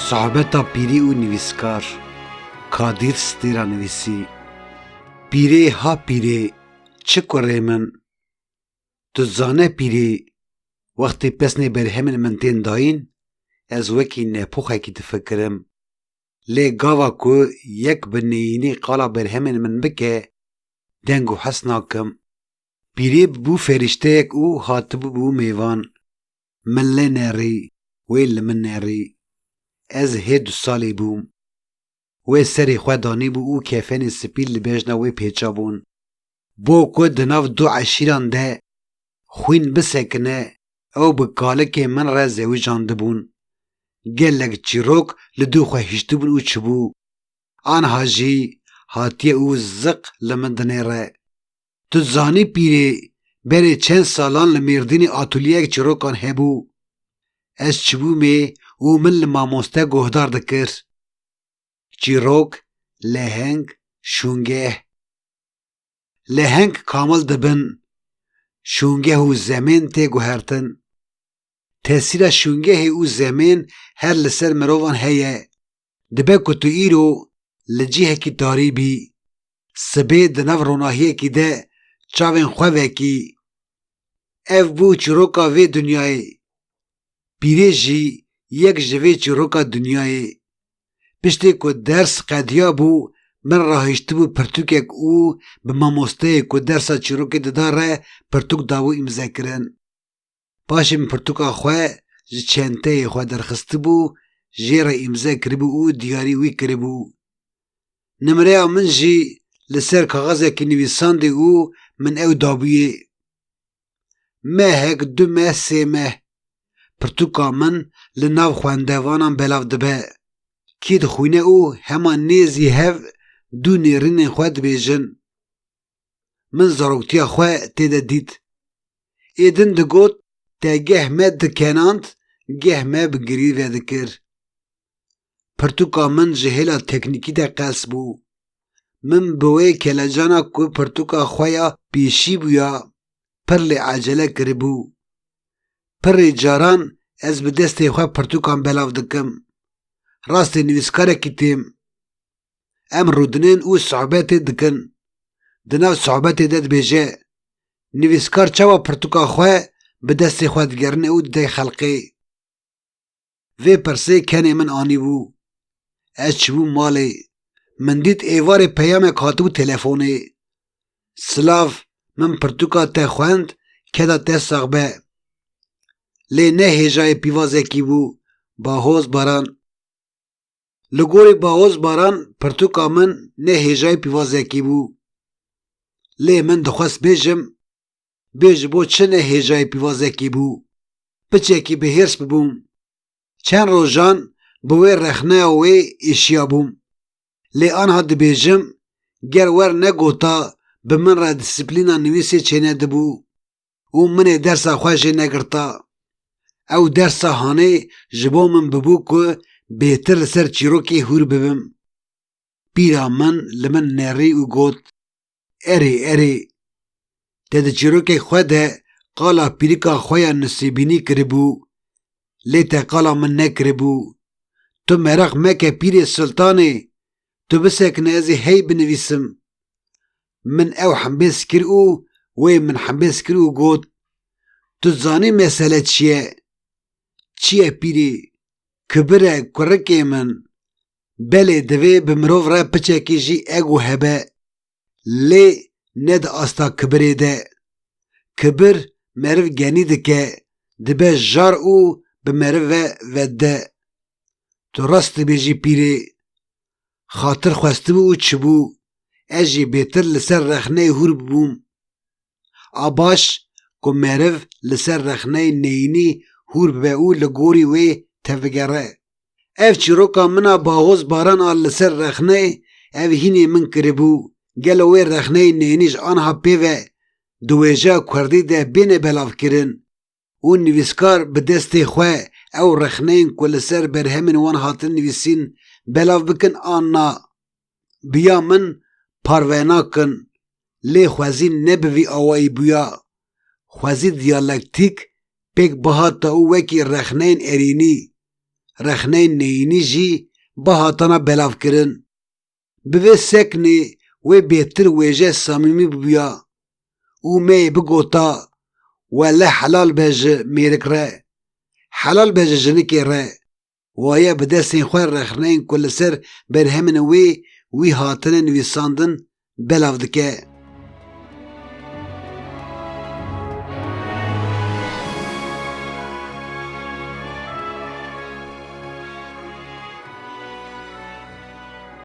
Sohbeta pîrî û nivîskar Kadîr Stîra nivîsî, Pîrê ha pîrê çi kurê min, tu zane pîrê wextê pesnê berhemên min tên dayîn ez wekî nepoxekî difikirim. Lê gava ku yek bi neyînî qala berhemên min bike, deng û hes nakim. Pîrê bûbû ferîşteyek û hatibûbû mêvan. Min lê nerî, wê li min nerî. Ez hê du salî bûm. Wê serê xwe danîbû û kefenê spî li bejna wê pêçabûn. Bo ku di nav du eşîran de xwîn bisekine ew bi kalikê min re zewijandibûn. Gelek çîrok li dû xwe hiştibûn û çibû. Anha jî hatiye û ziq li min dinêre. Tu dizanî pîrê berê çend salan li Mêrdînê atulyeyek çîrokan hebû. Ez çibûmê û min li mamoste guhdar dikir. Çîrok, leheng, şûngeh. leheng kamil dibin, şûngeh û zemên tê guhertin. Tesîra şûngehê û zemên her li ser mirovan heye, dibe ku tu îro li cihekî tarî bî, sibê di nav ronahiyekî de çavên xwe vekî. Ev bû çîroka vê dinyayê, pîrê jî yek ji vê çîroka dinyayê. Piştê ku ders qediyabû min rahiştibû pirtûkek û bi mamosteyê ku dersa çîrokê dida re pirtûk dabû îmzekirin. Paşê min pirtûka xwe ji çenteyê xwe derxistibû, jê re îmze kiribû û diyarî wî kiribû. Nimreya min jî li ser kaxizekî nivîsandî û min ew dabûyê. Mehek, du meh, sê meh. Pirtûka min li nav xwendevanan belav dibe. Kî dixwîne û hema nêzî hev du nêrînên xwe dibêjin. Min zaroktiya xwe tê de dît. Êdin digot te geh me dikenand geh me bi girî vedikir. Pirtûka min ji hêla teknîkî de qels bû. Min bi wê kelecana ku pirtûka xwe ya pêşî bûya pir lê ecele kiribû. Pirê caran ez bi destê xwe pirtûkan belav dikim. Rastê nivîskarekî têm. Em rûdinên û sohbetê dikin. Di nav sohbetê de dibêje, Nivîskar çawa pirtûka xwe bi destê xwe digerine û dide xelkê? Vê pirsê kenê min anîbû. Ez çibûm malê. Min dît êvarê peyamek hatibû telefonê. Silav, min pirtûka te xwend, keda te sax be. Lê ne hêjayê pîvazekî bû, Bahoz Baran. Li gorî Bahoz Baran pirtûka min ne hêjayê pîvazekî bû. Lê min dixwest bêjim, Bê ji bo çi ne hêjayê pîvazekî bû. Piçekî bi hêrs bibûm. Çend rojan bi wê rexneya wê êşiyabûm. Lê anha dibêjim, ger wer negota bi min re dîsiplîna nivîsê çênedibû û min ê dersa xwe jê negirta. Ew dersa hanê ji bo min bibû ku bêtir li ser çîrokê hûr bibim. Pîra min li min nerî û got. Erê erê. Te di çîrokê xwe de qala pîrika xwe ya Nisêbînî kiribû. Lê te qala min nekiribû. Tu meraq meke Pîrê Sultanê, tu bisekine ez ê hey binivîsim. Min ew hembêz kir û wê min hembêz kir û got, Tu zanî mesele çi ye? Çi ye pîrê? Kibir e kurikê min. Belê divê bi mirov re piçekî jî ego hebe lê ne di asta kibirê de. Kibir meriv genî dike, dibe jar û bi meriv ve vedide. Tu rast dibêjî pîrê. Xatir xwestibû û çibû. Ez jî bêtir li ser rexneyê hûr bûm. A baş ku meriv li ser rexneyê neyînî hûr bibe û li gorî wê tevigere. Ev çîroka min a Bahoz Baran a li ser rexneyê ev hînê min kiribû, gelo wê rexneyê neyînî ji anha pê ve di wêjeya kurdî de bêne belavkirin? û nivîskar bi destê xwe ew rexneyên ku li ser berhemên wan hatin nivîsîn belav bikin an na. Bi ya min parve nakin, lê xwezî ne bi vî awayî bûya. Xwezî diyalektîk pêk bihata û wekî rexneyên erînî, rexneyên neyînî jî bihatana belavkirin. Bi vê seknê wê bêtir wêje samîmî bûya û me yê bigota Wele helal be ji mêrik re, helal be ji jinikê re. Waye bi destên xwe rexneyên ku li ser berhemên wê wî hatine nivîsandin belav dike.